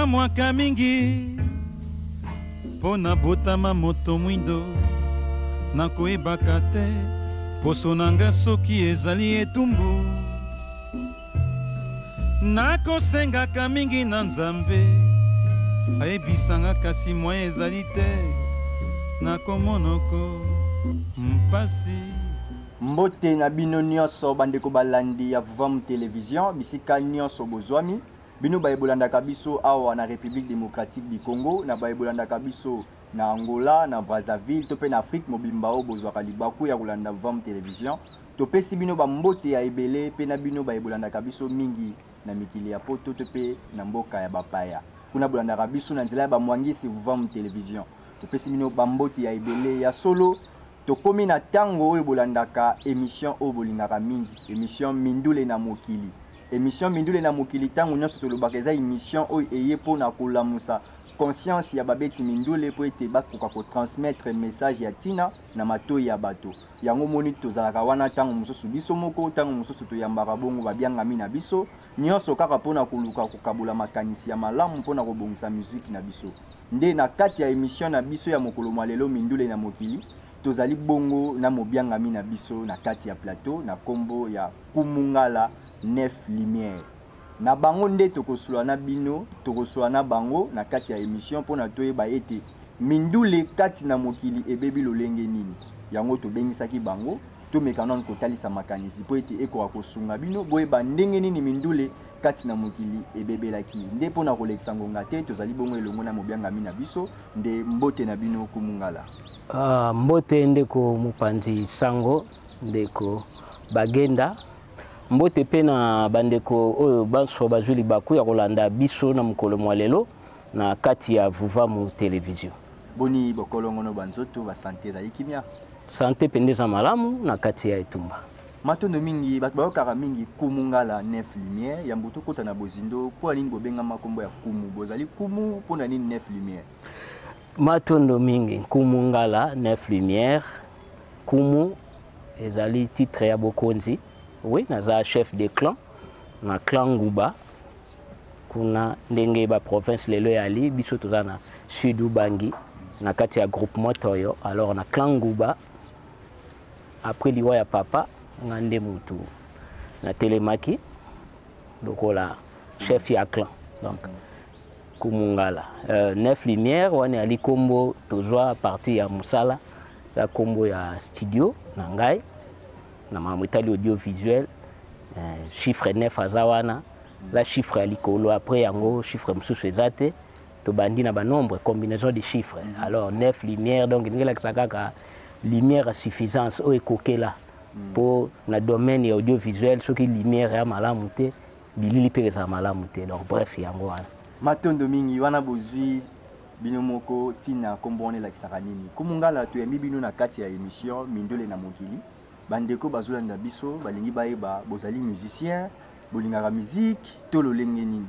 Nakamwaka mingi mpo nabotama moto mwindo, nakoyebaka te poso na nga soki ezali etumbu. Nakosengaka mingi na Nzambe ayebisanga, kasi moyen ezali te, nakomonoko mpasi. Mbote na bino nionso bandeko balandi ya Vuvamu Television bisika nionso bozwami. Bino baye bolandaka biso awa na Republique democratique du Congo, na baye bolandaka biso na Angola, na Brazzaville to pe na Afrique mobimba oyo bozwaka libaku ya kolanda Vam Television, topesi bino ba mbote ya ebele pe na bino baye bolandaka biso mingi na mikili ya poto to pe na mboka ya ba paya kuna bolandaka biso na nzela ya ba muangisi Vam Television. Topesi bino ba mbote ya ebele. Ya solo. Tokomi na tango oyo bolandaka emission oyo bolingaka mingi, emission Mindule na Mokili. Emission Mindule na Mokili tango nionso tolobaka eza emission oyo eye po na kolamusa conscience ya babeti mindule po ete bakoka ko transmettre message ya tina na matoyi ya bato. Yango omoni tozalaka wana tango mosusu biso moko, tango mosusu toyambaka bongo babiangami na biso, nionso kaka po na koluka kokabola makanisi ya malamu po na kobongisa musique na biso. Nde na kati ya emission na biso ya mokolo mwa lelo Mindule na mokili, tozali bongo na mobiangami na biso na kati ya plateau na kombo ya Kumungala Neuf Lumières. Na bango nde tokosloa na bino, tokosloa na bango na kati ya emission mpo na toyeba ete mindule kati na mokili ebebi lolenge nini. Yango tobengisaki bango, tomeka nano kotalisa makanisi mpo ete ekoka kosunga bino boyeba ndenge nini mindule kati na mokili ebebelaki, nde mpo na kolekisa ngonga te, tozali bongo elongo na mobiangami na biso, nde mbote na bino kumungala. Ah, mbote ndeko mopanzi sango, ndeko Bagenda. Mbote mpe na bandeko oyo banso bazwi libaku ya kolanda biso na mokolo mwa lelo na kati ya Vuvamu Television. Boni bokolongono ba nzoto, ba sante ezali kimia? Sante mpenza eza malamu na kati ya etumba. Matondo mingi bato bayokaka mingi Kumu Ngala Neuf Lumière ya mbutu kota na bozindo mpo na nini bobengama nkombo ya Kumu bozali Kumu mpo na nini Neuf Lumière? Matondo mingi Nkumu Ngala Neuf Lumière Kumu ezali titre ya bokonzi oui naza chef de clan na clan Nguba kuna ndenge ba province lelo yali biso toza na sud Ubangi na kati ya groupement Toyo alors na clan Nguba Après liwa ya papa, nga nde mutu na telemaki lokola chef ya clan. Donc Kumungala euh, neuf lumière wani ali kombo tozwa partie ya musala za kombo ya studio na ngai na makambo etali audiovisuel euh, chiffre 9 aza wana za chiffre ya likolo après yango chiffre mosusu eza te tobandi na ba nombre combinaison de chiffre mm -hmm. alors 9 lumière donc ndenge elakisa kaka lumière ya suffisance oyo ekokela mpo mm -hmm. na domaine ya audiovisuel soki lumière ya malamu te bilili mpe ezala malamu te donc bref yango wana matondo mingi wana bozwi bino moko ntina nkombo wana elakisaka nini kumungala toyambi bino na kati ya émission mindele na mokili bandeko bazolanda biso balingi bayeba bozali musicien bolingaka miziki to lolenge nini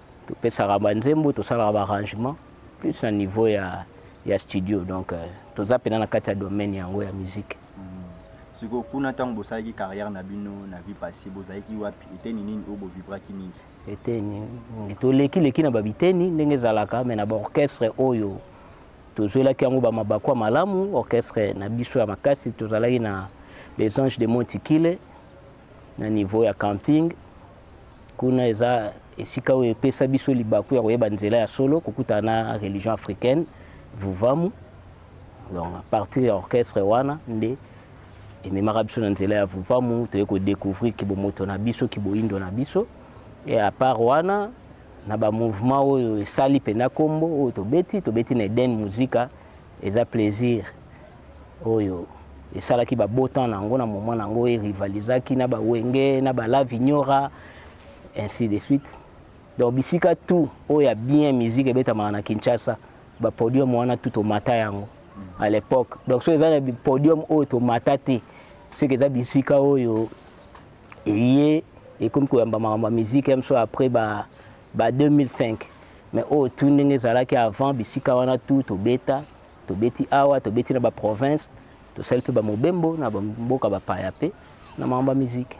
topesaka banzembo tosalaka baarrangement plus na niveau ya, ya studio donc euh, toza mpena na kati ya domaine yango ya musique hmm. sikoyo kuna ntango bosalaki carrière na bino na vie passé bozalaki wapi eteni nini oyo bovibraki mingi eteni mingi tolekileki na babiteni ndenge ezalaka me na baorchestre oyo tozwelaki yango bamabaku ya malamu orchestre na biso ya makasi tozalaki na les anges de montikile na niveau ya camping kuna eza esika oyo epesa biso libaku ya koyeba nzela ya solo kokutana na religion africaine vuvamu donc à partir ya orchestre wana nde ememaka biso na nzela ya vuvamu toye kodecouvrir kibomoto na biso kiboindo na biso e à part wana na bamouvement oyo esali mpenza nkombo oyo tobeti tobeti na eden musika eza plaisir oyo esalaki ba beau temps na yango na moment na yango erivalisaki na ba wenge na ba la vignora ainsi de suite donc bisika tout oyo ya bien musique ebetamaka na kinshasa ba podium wana tout tomata yango à l'époque donc soki eza na podium oyo tomata te seke eza bisika oyo eye ekomi koyamba makambo ya musique ya biso après ba, ba 2005 mais oyo tu ndenge ezalaki avant bisika wana tout tobeta Tobeti awa, tobeti na ba provinces, tosali mpe ba mobembo na ba mboka ba paya mpe na makambo ya musique.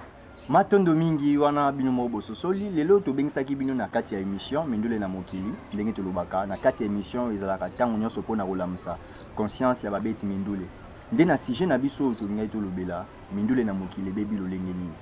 Matondo mingi wana bino moko bososoli. Lelo tobengisaki bino na kati ya emission mindule na mokili. Ndenge tolobaka na kati ya emission ezalaka tango nionso mpo na kolamusa conscience ya babeti mindule. Nde na sujet na biso oyo tolingaki tolobela mindule na mokili ebebi lolenge nini.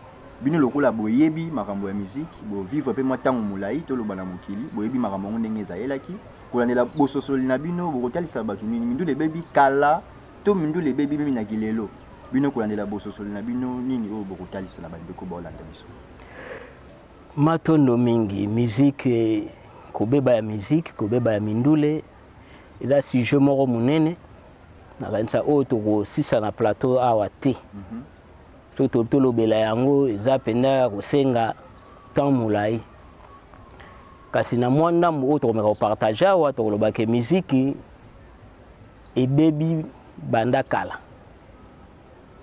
Bino lokola boyebi makambo ya musique, bo vivre mpe mwa tango molayi toloba na mokili, boyebi makambo yango ndenge ezayelaki. Kolandela bososoli na bino, bokotalisa bato nini? Mindule ebebi kala to mindule ebebi mimi na kilelo? Bino, kolandela bososoli na bino, nini oyo bokotalisa na bandeko baolanda biso? Matondo mingi. Musique, kobeba ya musique, kobeba ya mindule, eza sujet moko monene. Nakanisa oyo tokosisa na plateau awa te. Mm -hmm. so tolobela yango eza mpenza ya kosenga temps molai kasi na mwa ndambo oyo tokomeka kopartage awa tokoloba ke miziki ebebi banda kala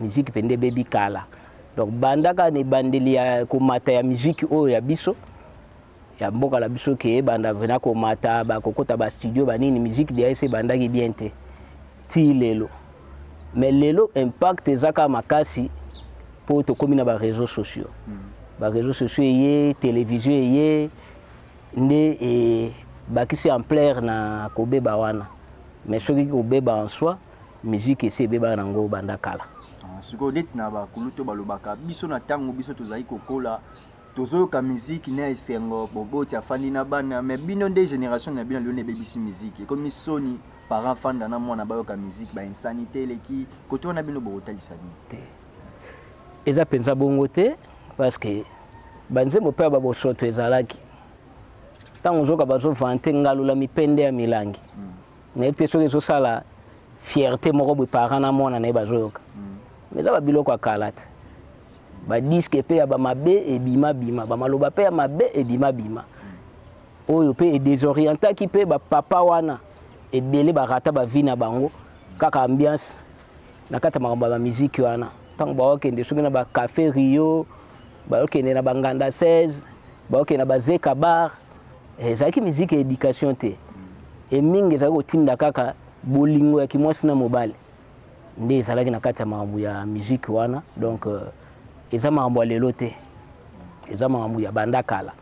miziki mpenza ebebi kala donc bandaka na ebandeli ya komata ya miziki oyo ya biso ya mboka na biso ke ebanda vrena komata bakokota bastudio banini musique de ese ebandaki bien te ti lelo mais lelo impact eza kaka makasi mpo tokómi na bareseau sociaux mm. bareseau sociaux eye télévision eye nde ebakisi ampleur na kobeba wana mais soki kobeba en soi musique esi ebebaka nango banda kala ah, sikoyo neti na bakulutu balobaka biso na ntango biso tozali kokola tozoyoka musique na esengo boboti afandi na bana mais bino nde generation na bino lelo nde ebebisi musique ekomi soni parent fanda na mwana bayoka musique ba insanité eleki koto wana bino bokotalisa nini te eza mpenza bongo te parce que banzembo mpe ya babosoto ezalaki ntango ozoka bazovante ngalula mipende ya milangi mm. nayebi te soki ezosala fierté moko boye parent na mwana na ye bazoyoka mais eza babiloko ya kala te badiske mpe ya bamabe ebimabima bamaloba mpe ya mabe ebimabima oyo mpe edesorientaki mpe bapapa wana ebele barata bavi na bango kaka ambiance na kati ya makambo ya bamiziki wana ntango baokende soki na bacafe rio baokende na banganda 16 baokende na bazeka bar eh, ezalaki miziki ya éducation te e mingi ezalaki kotinda kaka bolingo ya kimwasi na mobali nde ezalaki na kati ya makambo ya miziki wana donc euh, eza makambo ya lelo te eza makambo ya banda kala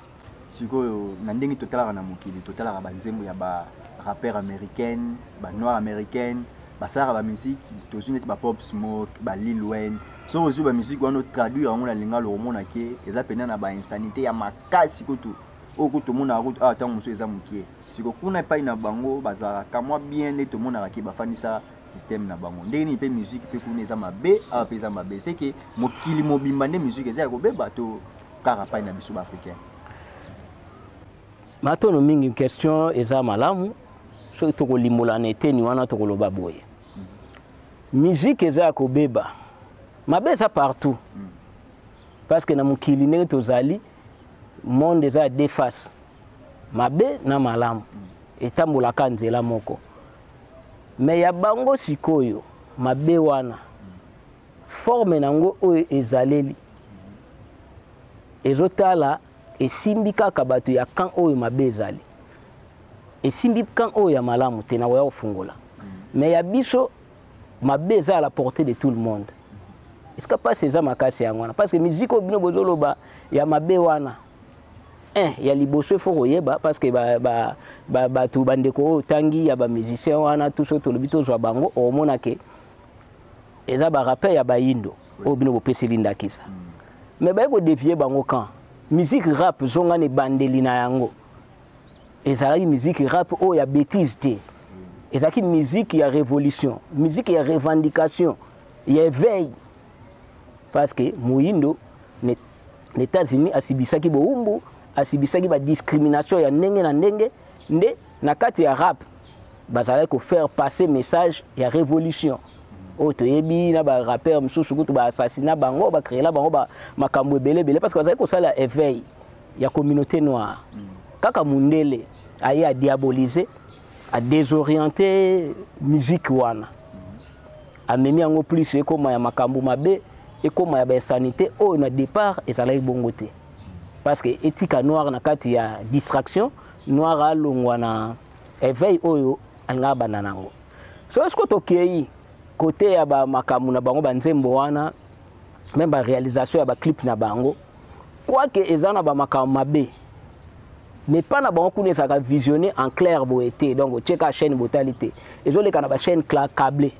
Sikoyo na ndenge totalaka na mokili, totalaka ba nzembo ya ba rappeurs americaines, ba noires americaines, basalaka ba musique, tozwi neti ba Pop Smoke, ba Lil Wayne. Soki ozwi ba musique wana o traduire yango na lingala okomona ke eza mpenza na ba insanites ya makasi kutu oyo kutu tomonaka kutu awa ntango mosusu eza mokie. Sikoyo kuna epai na bango bazalaka ka mwa bien nde tomonaka ke bafandisa système na bango. Ndenge nini mpe musique mpe kuna eza mabe awa mpe eza mabe? Ce que mokili mobimba nde musique eza ya kobeba to kaka pai na biso ba africain matono mingi question eza malamu soki tokolimbola na eteni wana tokoloba boye miziki mm. eza ya kobeba mabe eza partout mm. parce que na mokili ndenge tozali monde eza ya deux face mabe na malamu mm. etambolaka nzela moko me ya bango sikoyo mabe wana Forme na ngo oyo ezaleli ezotala esimbi kaka bato ya camp oyo mabe ezali esimbi camp oyo ya malamu te nakoya kofungola mais ya biso mabe eza à la portée de tout le monde esika mpasi eza makasi yango wana parce que musique oyo bino bozoloba ya mabe wana eh, ya liboso ifo koyeba parce que bato ba, ba, ba, bandeko oyo otangi ya bamusicien wana tuso tolobi tozwa bango okomona ke eza ba rappeur ya bayindo oyo bino bopeseli ndakisa me baye kodevie bango kan musique rap zonga na ebandeli na yango ezalaki musique rap oyo ya bétise te ezalaki musique ya révolution musique ya revendication ya éveil parce que moyindo na états-unis asibisaki bowumbu asibisaki badiscrimination ya ndenge na ndenge nde na kati ya rap bazalaki ko faire passer message ya révolution oyo toyebi na ba rappeur mosusu kutu ba assassina bango ba créela bango ba makambo ebele ebele parce que bazalaki kosala éveil ya communauté noire mm. kaka mundele aye a diaboliser a désorienter musique wana amemi yango plus ekoma ya makambo mabe ekoma ya bainsanité oyo na départ ezalaki bongo te parce que etika noire na kati ya distraction noire alongwa na Eveil oyo alingaka abanda nango. So siko tokei kote ya ba makambo na bango ba nzembo wana meme ba realisation ya ba clip na bango quoique eza na ba makambo mabe mais pas na bango kuna ezalaka visionné en clair boye te donc otie kaka chaîne botali te ezoleka na bachaîne cable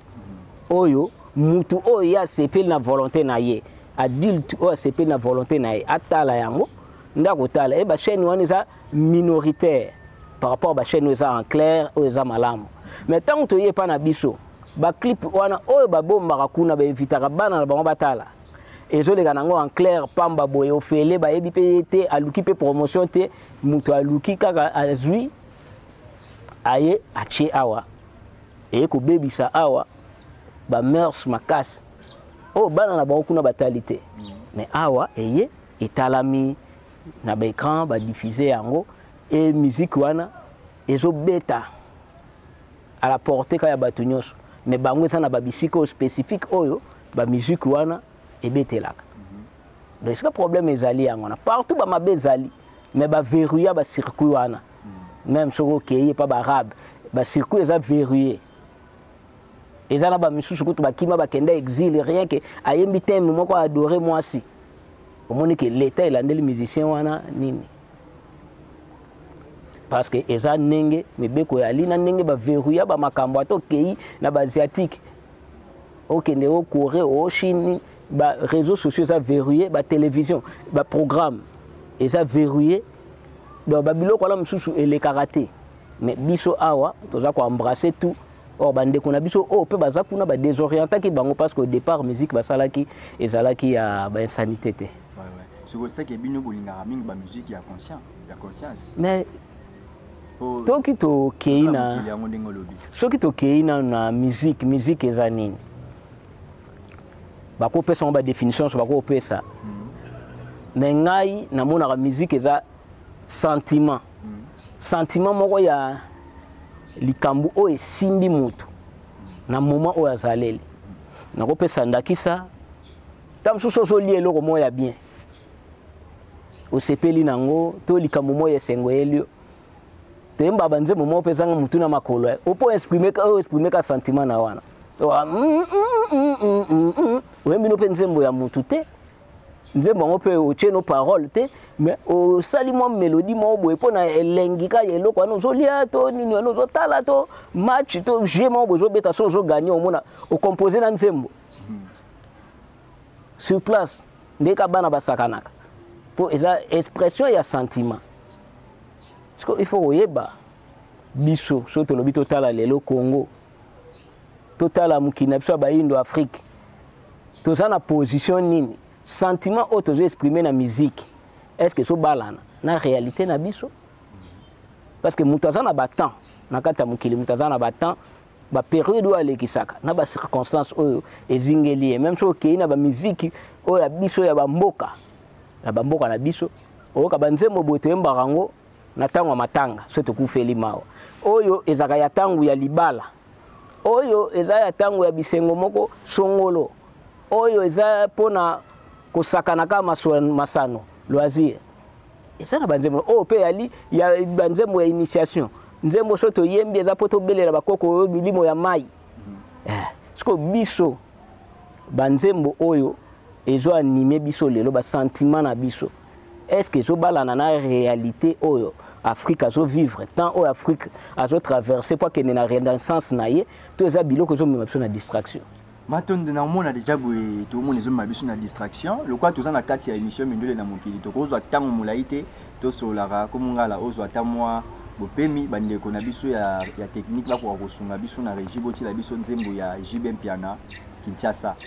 oyo mutu oyo ye asepeli na volonté na ye adulte oyo asepeli na volonté na ye atala yango nde akotala ye bachaîne wana eza minoritaire par rapport ba chaîne eza en clair oyo eza malamu mais tango toye pa na biso ba clip wana oyo ba bombaka kuna ba invitaka bana na bango batala ezoleka nango en clair pamba boye ofele bayebi pe ye te aluki pe promotion te moto aluki kaka azwi aye atie awa eye kobebisa awa ba mœurs makasi oyo bana na bango kuna batali te mais awa eye etalami na ba écran ba diffuser yango et musique wana ezo beta à la portée ka ya bato nyonso mais bango eza na ba bisika oyo spécifique oyo ba musique wana ebetelaka mhm. donc esika problème ezali yango wana partout ba mabe ezali mais ba verrouilla ba circuit wana mhm. même soki okei epa ba arabe ba circuit eza verrouillé eza na ba misusu kutu bakima bakenda exil rien que ayembi teme moko adore mwasi omoni ke leta elandeli musicien wana nini parce que eza ndenge mibeko ya lina ndenge baverrouilla bamakambo ata okei na baasiatique okende o corée o chine ba réseaux sociaux eza verrouillé ba télévision ba programme eza verrouillé donc babiloko wana mosusu elekaka te mais biso awa toza ko embrasser tout or bandeko na biso oyo mpe baza kuna badesorientaki bango parce que au départ musique basalaki ezalaki ya bainsanité te sikoseke bino bolingaka mingi bamusike ya conscience ya conscience mais soki tokei na soki tokei nano na musique musique eza nini bakopesa yango badefinition nyonso bakopesa mais hmm. ngai namonaka musique eza sentiment sentiment moko ya likambo oyo esimbi moto na moment oyo azaleli nakopesa ndakisa ntango mosusu ozolia eloko moko ya bien osepeli na yango to likambo moko ya esengo eyeli yo toyemba banzembo moko mpe ezanga motu na makolo eh. opo oexprime ka sentiment na wana oyembi no mpe nzembo ya motu te nzembo yango mpe otie no parole te mais osali mwa melodi moko boye mpo na elengi kaka ya eloko wana ozolia to nini wana ozotala to match to vie moko boye ozobeta so ozoganye omona ocompose na nzembo hmm. sur place nde ka bana basakanaka mpo eza expression ya sentiment siko il faut koyeba biso soki tolobi totala lelo congo totala mokili na biso ya bayindo afrique toza na position nini sentiment oyo tozo exprime na musique est ce que ezobalana na réalité na biso parce que moto aza na batemps na kati ya mokili moto aza na batemps baperiode oyo alekisaka na bacirconstance oyo ezingeli ye meme soki okei na bamiziki oyo ya biso ya bamboka na bamboka na biso oyoka banzembo boye toyembaka yango na ntango ya matanga so tokufeli mawa oyo ezalaka ya ntango ya libala oyo eza ya ntango ya bisengo moko songolo oyo eza mpo na kosakana kaka masano loisir eza na banzembo oyo mpe yali ya banzembo ya initiation nzembo so toyembi eza mpo tobelela bakoko oyo milimo ya mai mm-hmm. eh, siko biso banzembo oyo ezo anime biso lelo basantima na biso est ce que ezobalana na réalité oyo afrique azo vivre temps oyo afrique azo traverse po akende na renaissance na ye to eza biloko ezomema biso na distraction matondo na omona deja boye toomona ezomema biso na distraction lokola toza na kati ya émission mindele na mokili tokozwa ntango molai te tosololaka komongala ozwa ata mwa bopemi bandeko na biso ya, ya technique bakoka kosunga biso na regie botiela biso nzembo ya jb mpiana kinshasa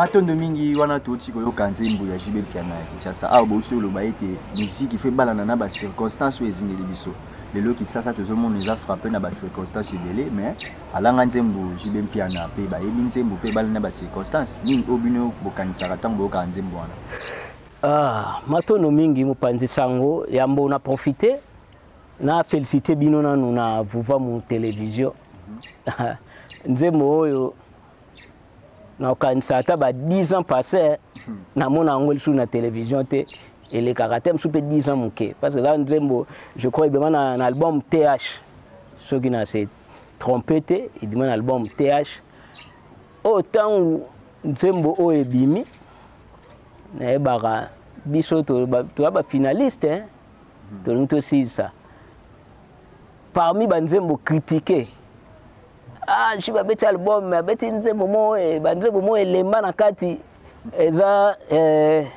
matondo mingi wana touti koyoka nzembo ya jibe piana ya kinshasa awa bouti oloba ete miziki fo ebalana na bacirconstance oyo ezingeli biso lelo kisasa tozomona eza frappe na bacirconstance ebele mais Alanga nzembo JB Mpiana pe bayebi nzembo pe ebale na ba circonstances nini oyo bino bokanisaka tango boyokaka nzembo wana? Ah matondo mingi mopanzi sango yambo na profite na felicite bino nanu na Vuvamu television nzembo oyo nakokanisa ata ba 10 ans passe namona yango lisusu na television te elekaka te mosusu mpe 10 ans moke parce que eza nzembo je crois ebema na, na album th soki na se trompe te ebima na album th oyo oh, ntango nzembo oyo ebimi nayebaka biso toya bafinaliste eh? hmm. tolingi tosilisa parmi banzembo kritike ah, ji babeti album abeti nzembo moko eh, banzembo moko elemba na kati eza eh,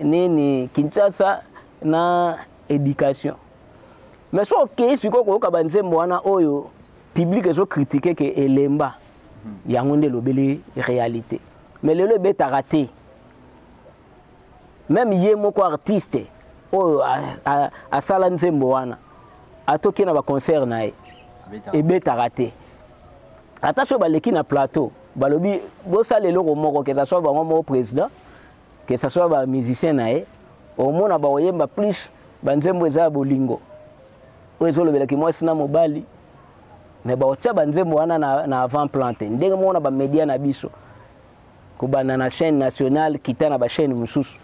nini kinshasa na éducation mais soki okei sikoyo koyoka banzembo wana oyo publike ezokritike ke elemba hmm. yango nde elobeli réalité mais lelo ebetaka te meme ye moko artiste oyo asala nzembo wana atoki na baconcert na ye ebetaka te ata soki baleki na plateau balobi bosala eloko moko kezaswa bango moko président que ça soit ba musicien na ye omona bakoyemba plus banzembo eza ya bolingo oyo ezolobelaki mwasi na mobali me bakotia banzembo wana na, na avant plan te ndenge moko na bamedia na biso kobanda na chaîne nationale kita na bachaîne mosusu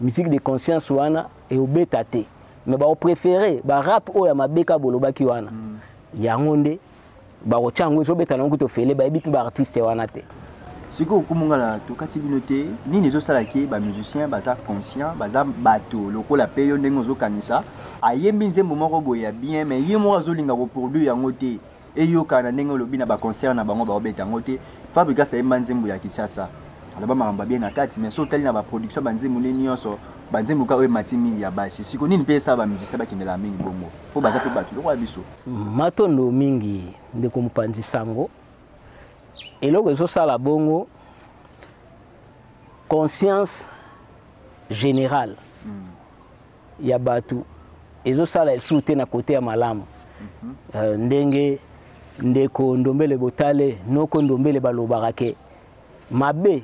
musique de conscience wana eobeta te me baopréféré barap oyo ya mabeka bolobaki wana mm. yango nde bakotia yango ezobeta nango kutu ofele bayebi mpe baartiste wana te sikoyo komonga na tokati bino te nini ezosala ke bamusicien baza conscient baza bato lokola mpe yo ndenge ozokanisa ayembi nzembo moko boye ya bien me ye moko azolinga koproduire yango te eyokana ndenge olobi na baconcert na bango baobeta yango te fabrigas ayemba nzembo ya kisasa aloba makambo abie na kati me so otali na baproduction banzembo nde nyonso banzembo ka oyo emati mingi ya basi siko nini mpe esala bamusicien bakendelaka mingi bongo mpo baza mpe bato lokola biso Matondo mingi ndeko mopanzi sango. Eloko ezosala bongo conscience générale ya bato ezosala lisusu te na kote ya malamu mhm. euh, ndenge ndeko ndombele botale noko ndombele balobaka ke mabe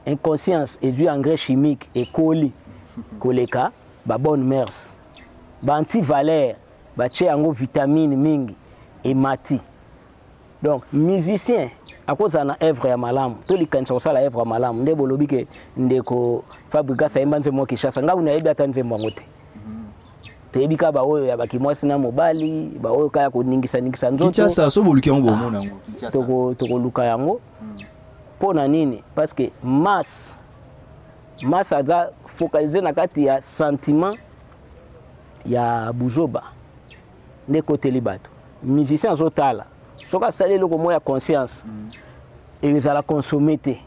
inconscience ezwi engrais chimique ekoli koleka ba bonne mers ba antivaleur Batie yango vitamine mingi emati. Donc musicien akozala na œuvre ya malamu to likanisa kosala œuvre ya malamu nde bolobi ke ndeko Fabrigas ayemba nzembo mwa Kinshasa ngai nayebi ata nzembo yango te toyebi kaka baoyo ya bakimwasi na mobali baoyo kaka ya koningisaningisa nzotokinshasa so boluki yango bomona ah, yango tokoluka yango hmm. mpo na nini parce que masse masse aza focalise na kati ya sentiment ya buzoba nde ekoteli bato musicien azotala soki asali eloko moko ya conscience mm. ezala consomme te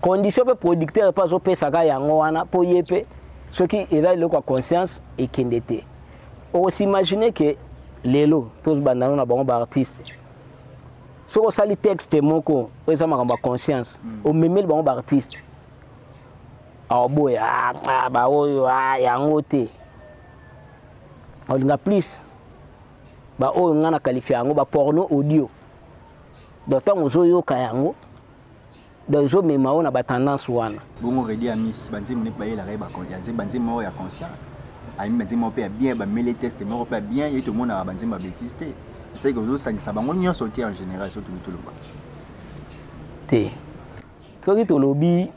condition mpe producteur mpe azopesaka yango wana mpo ye mpe soki eza eloko ya conscience ekende te okosimagine ke lelo tozobanda yango na bango baartiste soki osali texte moko oyo eza makambo ya conscience mm. omemeli bango baartiste aoboya ah, ah, baoyo ah, yango te olinga plus baoyo ngai na qualifia yango baporno audio donc ntango ozoyoka yango donc ezomema yo na batendance wana bongo redi amis banzembo nde bayelaka ye banzembo moko ya conscient ayimi banzembo moko mpe ya bien bameli teste moko mpe ya bien ye tomonaka banzembo ya betise te esaki ozosangisa bango nyonso te en général so toluki toloba te soki tolobi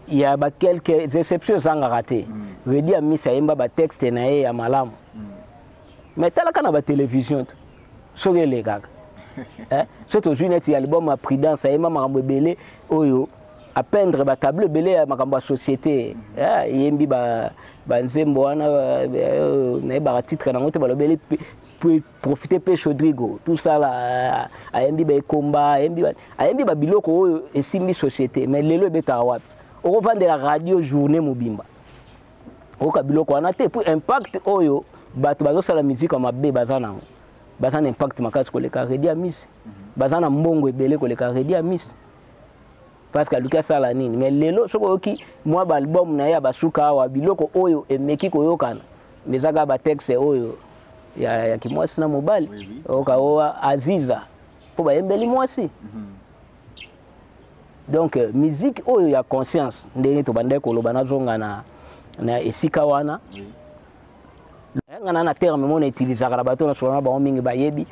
ya ba quelques exceptions ezangaka te mm. redi ya misa ayemba batexte na ye ya malamu mm. mais talaka na batelevision te soki elekaka eh? soki tozwi neti ya liboma prudence ayemba makambo ebele oyo apendre batableau ebele ya makambo ya société mm. eh, eyembi banzembo wana eh, nayebaka titre nango te balobeli profite mpe chaudrigo tusala euh, ayembi baekomba ayembi babiloko oyo esimbi société mais lelo ebetaka wapi okovandela radio journée mobimba oyoka biloko wana te mpo impact oyo bato bazosala miziki ya mabe baza nango baza na impact makasi koleka redi ya misi baza na mbongo ebele koleka redi ya misi parce que aluki asala nini mais lelo soki oyoki mwa baalbum na ye ya basuka awa biloko oyo emeki koyokana ezaka batexte oyo ya, ya kimwasi na mobali oui, oui. oyoka o aziza mpo bayembeli mwasi mm -hmm. donc euh, musique oyo ya conscience ndenge tobandaki koloba nazonga na, na esika wana oui. nga na na terme mona utilisaka na bato na solo na bango mingi bayebi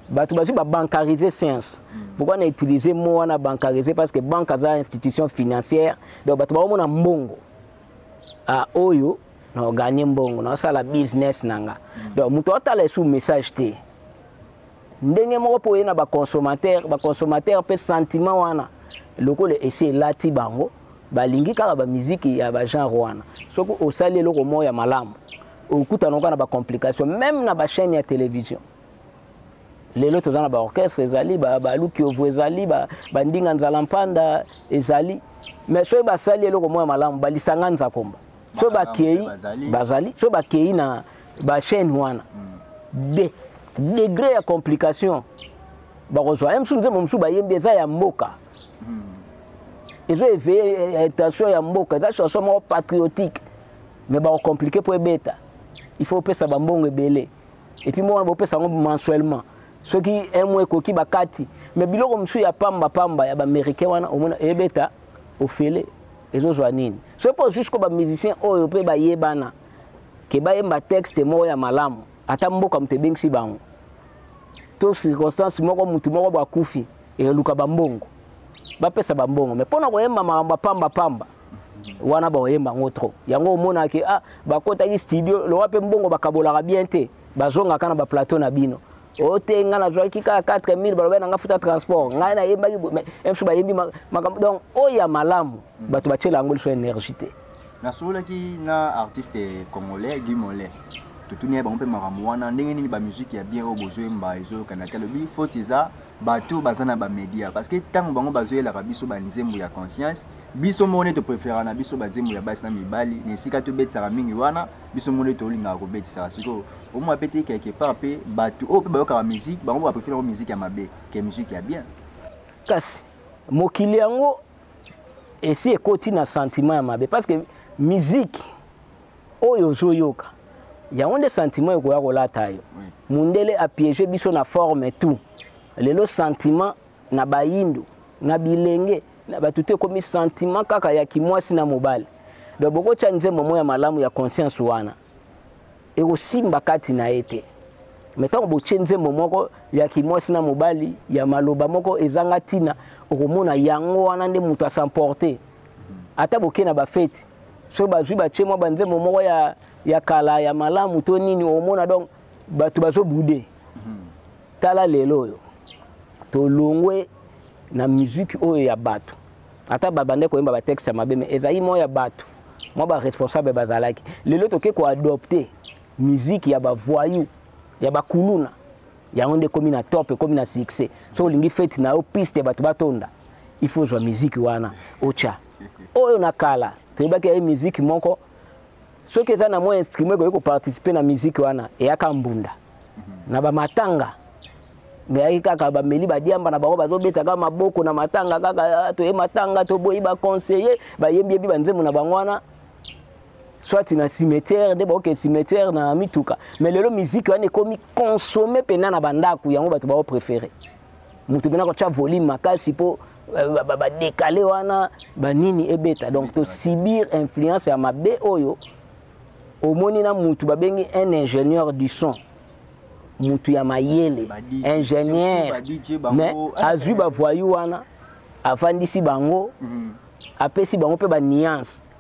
bato bazwi babancarise science mm. pourkoi na utilise mo wana bancarise parce que banque aza institution financière donc bato baomona mbongo a ah, oyo naoganye mbongo naosala business na nga mm. donc moto atala esu message te Ndenge moko mpo eye na baconsommateur, baconsommateur mpe sentiment wana lokola esi elati bango, balingi kaka bamiziki ya bagenre wana. Soki osali eloko moko ya malamu, okutana oka na bacomplication, meme na bachaine ya television. Lelo toza na baorchestre ezali, balukiovu ezali, bandinga nzala mpanda ezali, mais soki basali eloko moko ya malamu, balisanga nzakomba. soki bakei bazali soki bakei na bachaine wana hmm. de degre ya complication bakozwa ye mosusu nzembo mosusu bayembi eza ya mboka hmm. ezo eveille attention eh, eh, ya mboka eza chanson moko patriotique mais bakocomplike mpo ebeta il faut opesa bambongo ebele epuis moko wana bopesa yango mensuellement soki un mois ekoki bakati mais biloko mosusu ya pamba pamba ya baaméricain wana omona ebeta eh, ofele ezozwa nini soki mpo osusu ko bamusicien oyo mpe bayebana ke bayemba texte moko ya malamu ata mboka moto ebengisi bango to circonstance moko motu moko bo akufi eluka bambongo bapesa bambongo me mpo na koyemba makambo ya pamba pamba wana bakoyemba yango trop yango omonaka ke ah, bakotaki studio lowa mpe mbongo bakabolaka bien te bazongaka na baplateau na bino o te ngai nazwaki kaka 4000 balobaki na ngai futa transport ngai nayembaki msu bayembi makambo donc oyo ya malamu mm. bato batyela yango liso énergie te nasololaki na artiste congolais guy molais totuni ye bango mpe makambo wana ndenge nini bamiziki ya bien oyo bozoyemba ezoyokana te alobi foti eza bato baza na bamédia parce que ntango bango bazoyelaka biso banzembo ya conscience biso moko nde topreferaka na biso banzembo ya basi na mibali na esika tobetisaka mingi wana biso moko nde tolingaka kobetisaka sikoyo omo abeti ye quelque part mpe bato oyo mpe bayokaka miziki bango baprefere yango miziki ya mabe ke miziki ya bien kasi mokili yango esi ekoti na sentiment ya mabe parce que miziki oyo ozoyoka yango nde sentiment ekoya kolata yo mundele apiege biso na forme tout lelo sentiment na bayindo na bilenge na bato te ekomi sentiment kaka ya kimwasi na mobali donc bokotya nzembo mo ya malamu ya conscience wana ekosimba kati na ye te me ntango botye nzembo moko ya kimwasi na mobali ya maloba moko ezanga ntina okomona yango wana nde moto asemporte ata boke na bafeti soki bazwi batye mwa banzembo moko ya, ya kala ya malamu to nini omona donc bato bazobude Tala lelo oyo tolongwe na musique oyo ya bato ata babande koyemba batexte ya mabe me ezali mwa ya bato mwa baresponsable bazalaki lelo toke koadopte musique ya bavoyou ya bakuluna yango nde ekomi na top ekomi na succès so olingi fete na yo piste bato batonda il faut ozwa musique wana otya oyo na kala toyebaki yaye musique moko soki eza na mwa instrument ekoki koparticipe na miziki wana eyaka mbunda mhm. na bamatanga meyaki kaka bameli badiamba na bango bazobetaka maboko na matanga kaka ah, toye matanga toboyi baconseille bayembiebi banzembo na bango wana soit na cimetière nde baoke cimetière na mituka mais lelo miziki wana ekomi consomme mpena na bandako yango bato baopréféré moto mpena kotya volume makasi mpo badekale wana banini ebeta donc tosibir influence ya mabe oyo omoni na mutu babengi un ingénieur du son mutu ya mayele ingénieur mais azwi bavoyu wana afandisi bango mm. apesi bango mpe baniance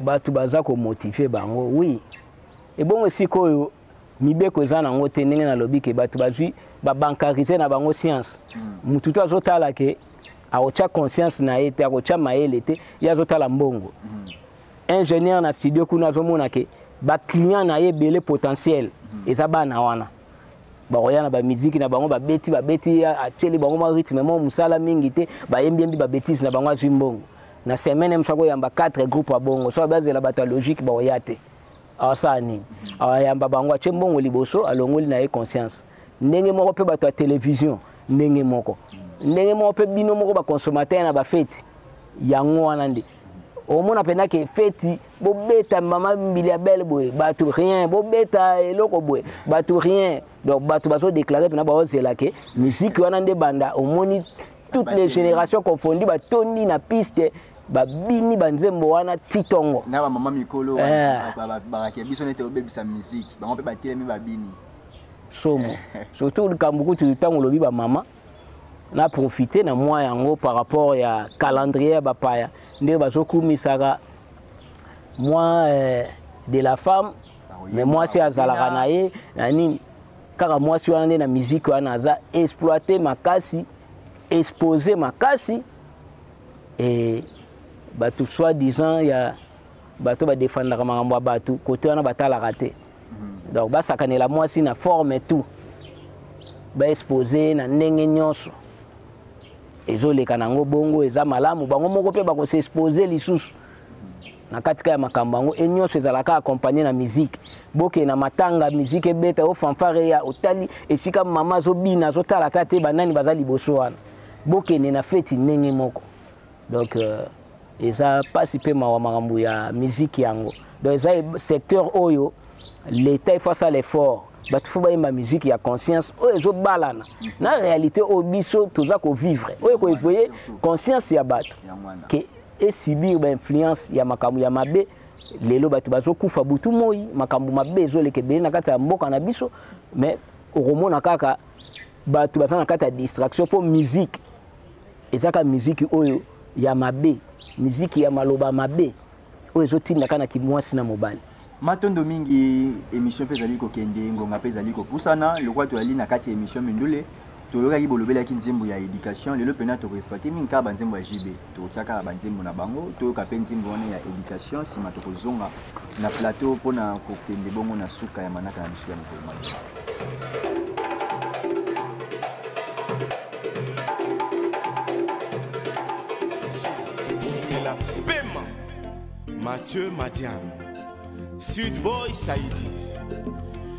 bato baza komotive bango wi ebongo esika oyo mibeko eza nango te ndenge nalobi ke bato bazwi babankarise na bango science hmm. motu to azotala ke akotya conscience na ye te akotya mayele te ye azotala mbongo hmm. ingénieur na studio kuna azomona ke baclient na ye ebele potentiel hmm. eza bana wana bakoya na bamiziki na bango babeti babeti atyeli bango mwa rythme mwa mosala mingi te bayembiembi babetise na bango azwi mbongo na semaine mosu akoyamba 4 groupe ya bongo so bazela bato ya logique bakoya te asala nini ayamba bango atye mbongo liboso alongoli na ye conscience ndenge moko mpe bato ya televizio ndenge moko ndenge moko mpe bino moko baconsommateur na bafeti yango wana nde omona mpenza ke feti bobeta mama mbili ya belle boye bato rien bobeta eloko boye bato rien donc bato bazodeklare mpena baozela ke miziki wana nde banda omoni toutes les générations confondu batondi na piste babini banzembo wana titongo na bamama mikolo eh. bakake biso nete obebisa miziki bango mpe batelemi babini somo surtout likambo kutu ntango olobi bamama na profite na mwa yango par rapport ya calendrier ya bapaya nde bazokumisaka mwa eh, de la femme me mwasi azalaka na ye na nini kaka mwasi wana nde na miziki wana aza exploite makasi expose makasi e bato soi disant ya bato badefandaka makambo ya bato kote wana batalaka te donc basakanela mwasi na forme tout baexpose na ndenge nyonso ezoleka nango bongo eza malamu bango moko mpe bakoseexpose lisusu na katika ya makambo yango e nyonso ezalaka akompagne na miziki bokee na matanga miziki ebeta yo fanfare ya otali esika mama azobina azotalaka te banani baza liboso wana bokende na feti ndenge moko donc euh, eza pasi pe mawa makambo ya musique yango donc eza secteur oyo l'état ifa asala effort bato fo bayemba musique ya conscience oyo ezobalana na réalité oyo biso toza kovivre oyo ekoevoye conscience ya bato ke esibir bainfluence ya makambo ya mabe lelo bato bazokufa butu moi makambo mabe ezoleka ebele na kati ya mboka na biso mais okomona kaka bato baza na kati ya distraction mpo musique ezaka miziki oyo ya mabe miziki ya maloba mabe oyo ezotinda kaka na kimwasi na mobali matondo mingi émission mpe ezali kokende ngonga mpe ezali kopusana lokola toyali na kati ya émission mindule toyokaki bolobelaki nzembo ya éducation lelo mpena tokoexploite mingi kaka banzembo ya jb tokotia kaka banzembo na bango toyoka mpe nzembo wana ya éducation nsima tokozonga na plateau mpo na kokende bongo na suka ya manaka na biso ya mokolo mobimba. la pema mathieu madiam sud boy saidi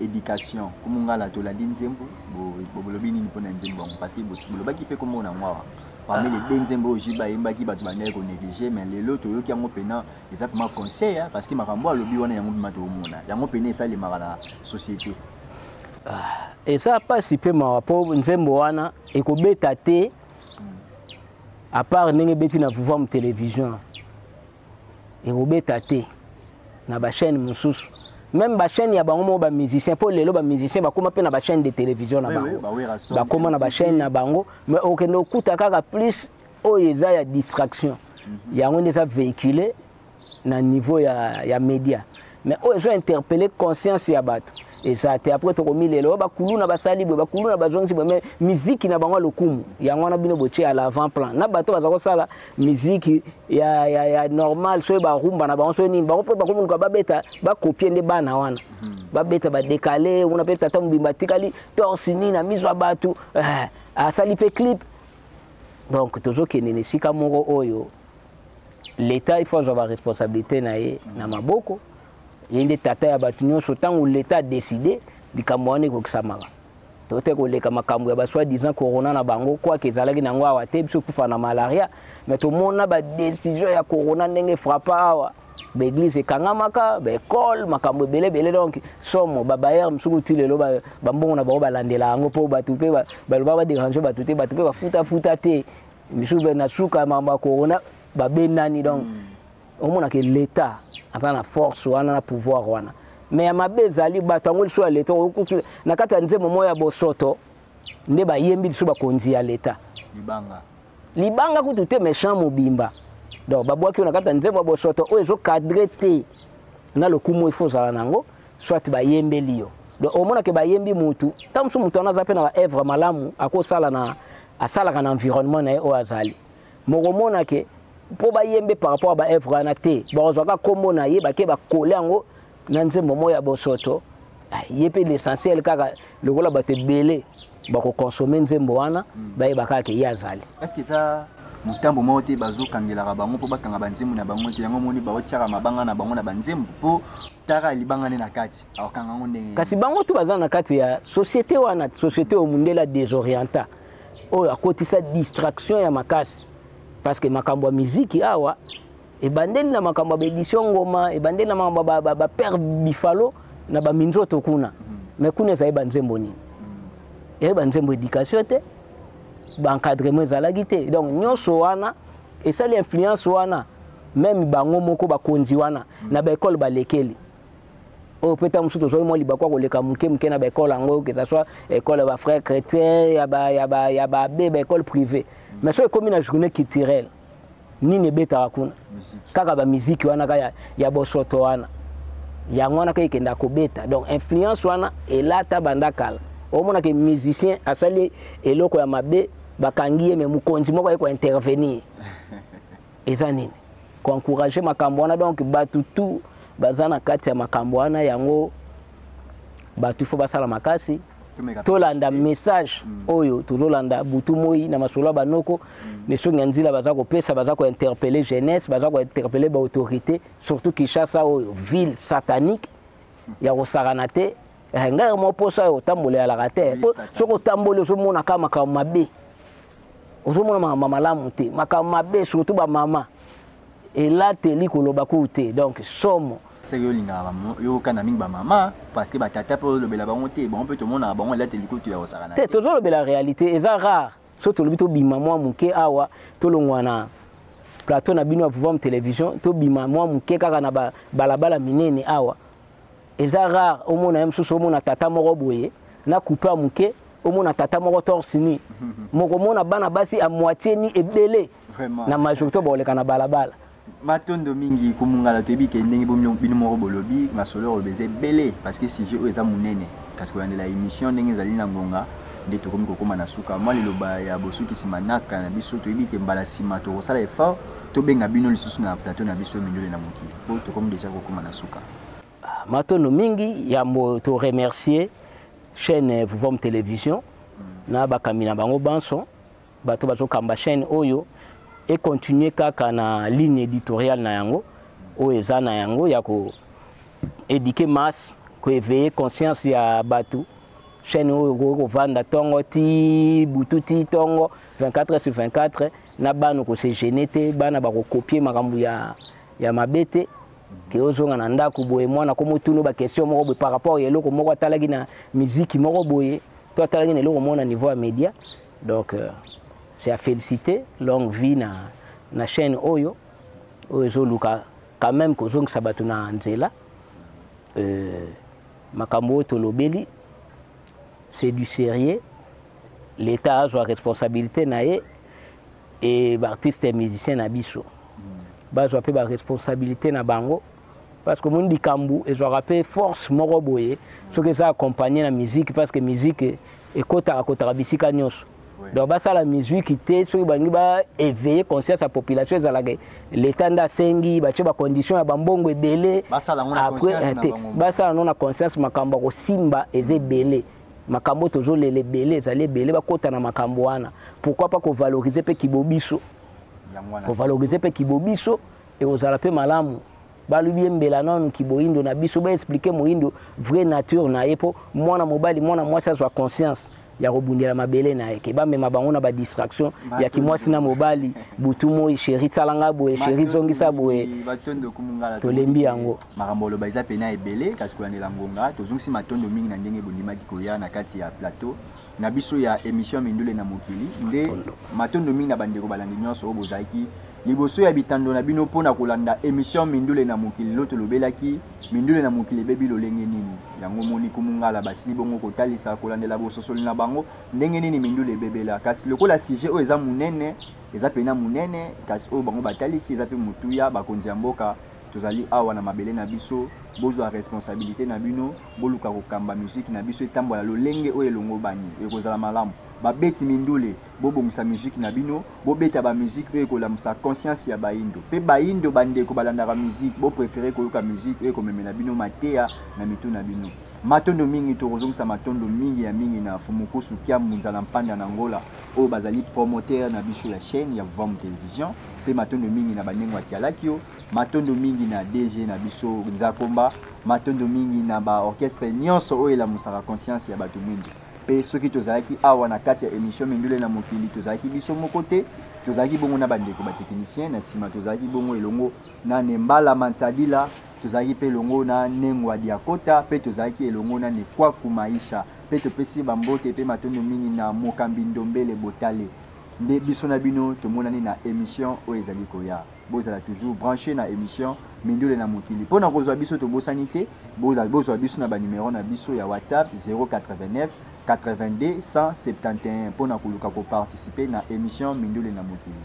Education ko mungala tolandi nzembo bo bolobi nini pona nzembo yango parce que bolobaki pe kombo nango awa parmi les deux nzembo oyo JB ayembaki batu bandaki ko negliger mais lelo toyoki yango pena eza vraiment conseil parce que makambo oyo alobi wana yango vraiment tokomona yango pena esalemaka na societe ah, eza pasi pe mawa po nzembo wana ekobeta te à part ndenge ebeti na Vuvam television ekobeta te na ba chaîne mosusu même ba chaîne ya bango moko ba musicien mpo lelo ba musicien bakoma mpe na ba chaîne de télévision na bango bakoma na ba chaîne na bango mais okende okuta kaka plus oyo eza ya distraction mhm. yango nde eza véhicule na niveau ya, ya média mais oyo ezo interpelle conscience ya bato eza te après tokomilela oyo bakuluna basali boye bakuluna bazongisi boye mais miziki na bango ya lokumu yango wana bino botie à l'avant plan na bato baza kosala miziki ya, ya, ya normal soki barumba na bango soki nini bango mpe bakomoluka babeta bakopie nde bana wana mhm. babeta badekale kuna mpe tata mobimba atikali torsi nini na miso ya bato eh, asali mpe clip donc tozokende na esika moko oyo l'etat il faut azwa baresponsabilité na ye na maboko ye nde tata ya bato nyonso ntango l'etat adeside likambo wana ekokisamaka tote koleka makambo ya basoi disant corona na bango kwake ezalaki na yango awa te biso kufa na malaria mais tomona badesizio ya corona ndenge frappa awa baeglise ekangamaka baekole makambo ebele ebele donc somo babayere mosuku ti lelo bambongo na bango balandela yango mpo bato mpe baloba baderange bato te bato mpe bafutafuta te bisu be na suka ya makambo ya corona babendani donc mm. omonaka leta aza na force wana na pouvoir wana me ya mabe ezali bato yango liso ya leta okoki na kati ya nzembo moko ya bosoto nde bayembi liso bakonzi ya leta libanga libanga kutu te méchant mobimba donc babwaki oyo na kati ya nzembo ya bosoto oyo ezokadre te na lokumu efo ozala na yango soit bayembeli yo donc omonake bayembi motu ntango mosusu motu wana aza mpe na baevre malamu akosala na asalaka na environnement na ye oyo azali mokomona ke mpo bayembe par rapport ya baevre wana te bakozwa kaka nkombo na ye bake bakole yango na nzembo moko ya bosoto ah, ye mpe l'essentiel kaka lokola bato ebele bakokonsome nzembo wana hmm. bayeba kaka ke ye azali motambo moko te bazokangelaka bango mpo bakanga banzembo na bango te yango omoni baotyaka mabanga na bango na banzembo mpo taka libanga nde na kati kasi bango tu baza na kati ya société wana société oyo mundele ya desorienta oyo akotisa distraction ya makasi parce que makambo ya miziki awa ebandeli na makambo ya baedition ngoma ebandeli na makambo ya bapere bifalo na baminzoto kuna mm. mais kuna ezali banzembo nini mm. ezali banzembo éducation te baencadrement ezalaki te donc nyonso wana esali influence wana meme bango moko bakonzi wana mm. na baekole balekeli oyo mpe ntango mosusu tozwaki mwa libaku ya koleka moke moke na baekole yango que ça soit ekole ya bafrère chrétien ya baabe baekole privé mais soki ekomi na journée culturelle nini ebetaka kuna kaka bamiziki wana kaka ya bosoto wana yango wana kaka ekenda kobeta donc influence wana elata banda kala omona ke musicien asali eloko ya mabe bakangi ye me mokonzi moko aye kointervenir eza nini ko encourager makambo wana donc batu tout baza na kati ya makambo wana yango batu faut basala makasi tolanda message mm. oyo tozolanda butu moi na masolo ya banoko mm. misongi ya nzila baza kopesa baza kointerpele jeunesse baza kointerpele baautorité surtout kinshasa oyo ville satanique mm. ya kosakana te eh, ngai mwa mposa oyo otambola yalaka te soki otamboli ozomona kaka makambo mabe ozomona makambo malamu te makambo mabe surtout bamama elateli koloba kuu te donc somo seke olingaka yokana mingi bamama parceke batata mpe olobela bango te bango mpe tomonaka bango elateli kutu ya kosaka na te tozolobela réalité eza rare so tolobi tobima mwa moke awa tolongwa na plateau na bino ya pouvoir television tobima mwa moke kaka na balabala minene awa Eza rare omona ye mususu omona tata moko boye na coupe ya muke omona tata moko torse nu mokomona bana basi a moitié nu ebele na majorité bakoleka na balabala matondo mingi komungala toyebi ke ndenge bino moko bolobi masolo oyo eza ebele parce que sujet oyo eza monene kasi kolandela émission ndenge ezali na ngonga nde tokomi kokoma na suka mwa liloba ya bosukisi manaka na biso toyebi ke mbala nsima tokosala effort tobenga bino lisusu na plateau na biso mindule na mokili po tokomi deja kokoma na suka matondo mingi yambo to remercier chaîne Vuvom Television na bakambi na bango banso bato bazokamba chaîne oyo e continuer kaka na ligne éditoriale na yango oyo eza na yango ya ko éduquer masse ko éveiller conscience ya bato chaîne oyo okoki kovanda ntongo ti butu ti ntongo 24 sur 24 na bana kose gene te bana bakokopie makambo ya, ya mabe te ke ozonga na ndako boye mwana ko motuna ba question moko boye par rapport ya eloko moko atalaki na miziki moko boye to atalaki na eloko moko na niveau ya media donc euh, c'est à féliciter longue vie na, na chaîne oyo oyo ezoluka quand même kozongisa bato na nzela euh, makambo oyo tolobeli c'est du sérieux l'état azwa responsabilité na ye et ba artistes et musiciens na biso bazwa pe ba responsabilité na bango parce que mon likambu ezwaka pe force moko boye soki eza accompagné na musique parce que musique ekotaka kotaka bisika nyonso donc basala musique te soki balingi ba éveiller conscience ya population ezalaka leta nde asengi batye bacondition ya bambongo ebele après te basala yango na conscience makambo ya kosimba eza ebele makambo oyo tozolela ebele ezali ebele bakota na makambo wana pourquoi pas kovalorize mpe kibobiso kovalorize mpe kibobiso ekozala mpe malamu balobi embela nanu kiboindo na biso baexplike moindo vrai nature na ye mpo mwana mobali mwana mwasi azwa conscience ya kobundela mabele na ye ke bamema bango na badistraction ya kimwasi na mobali butu moi sheri tsala ngai boye sheri zongisa boye tolembi yango Makambo ya koloba eza pena ebele, kasi kolandela ngonga, tozongisi matondo mingi na ndenge bondimaki koya na kati ya plateau na biso ya emission Mindule na Mokili, nde matondo mingi na bandeko balandi nionso oyo bozalaki liboso ya bitando na bino mpo na kolanda emission Mindule na Mokili. Lelo tolobelaki mindule na mokili ebebi lolenge nini, yango omoni kumungala basili bongo kotalisa, kolandela bososoli na bango ndenge nini mindule ebebela, kasi lokola sujet oyo eza munene, eza pena munene, kasi oyo bango batalisi eza mpe motuya, bakonzi ya mboka. Tozali awa na mabele na biso, bozwa responsabilite na bino, boluka kokamba miziki na biso etambola lolenge oyo elongobani, ekozala malamu. Babeti mindule, bobongisa miziki na bino, bobeta ba miziki oyo ekolamusa conscience ya bayindo pe bayindo bandeko balandaka miziki, bo preferer koyoka miziki oyo ekomemela bino mateya na mitu na bino. Matondo mingi, tokozongisa matondo mingi ya mingi na Fumukusu, Kiambu, Nzala Mpanda na Angola. oyo bazali promoteur na biso ya chaine ya Vuamu Television pe matondo mingi na Banengo ya Kialakio, matondo mingi na DG na biso Nzakomba, matondo mingi na ba orchestres nionso oyo elamusaka conscience ya batu muindu. Pe soki tozalaki awa na kati ya emission Mindule na Mokili, tozalaki biso moko te, tozalaki bongo na bandeko ba techniciens, na sima tozalaki bongo elongo na Nembala Mansadila, tozalaki pe elongo na Nengua Diakota, pe tozalaki elongo na Nekuaku Maisha. Mpe topesi ye bambote mpe matondo mingi na Mokambi Ndombele Botale nde biso na bino tomonani na emission oyo ezali koya. Bozala toujours branches na emission Mindule na Mokili. Mpo na kozwa biso tobosani te bozwa biso na ba numeros na biso ya WhatsApp 089 82 171 mpo na koluka ko participer na emission Mindule na Mokili.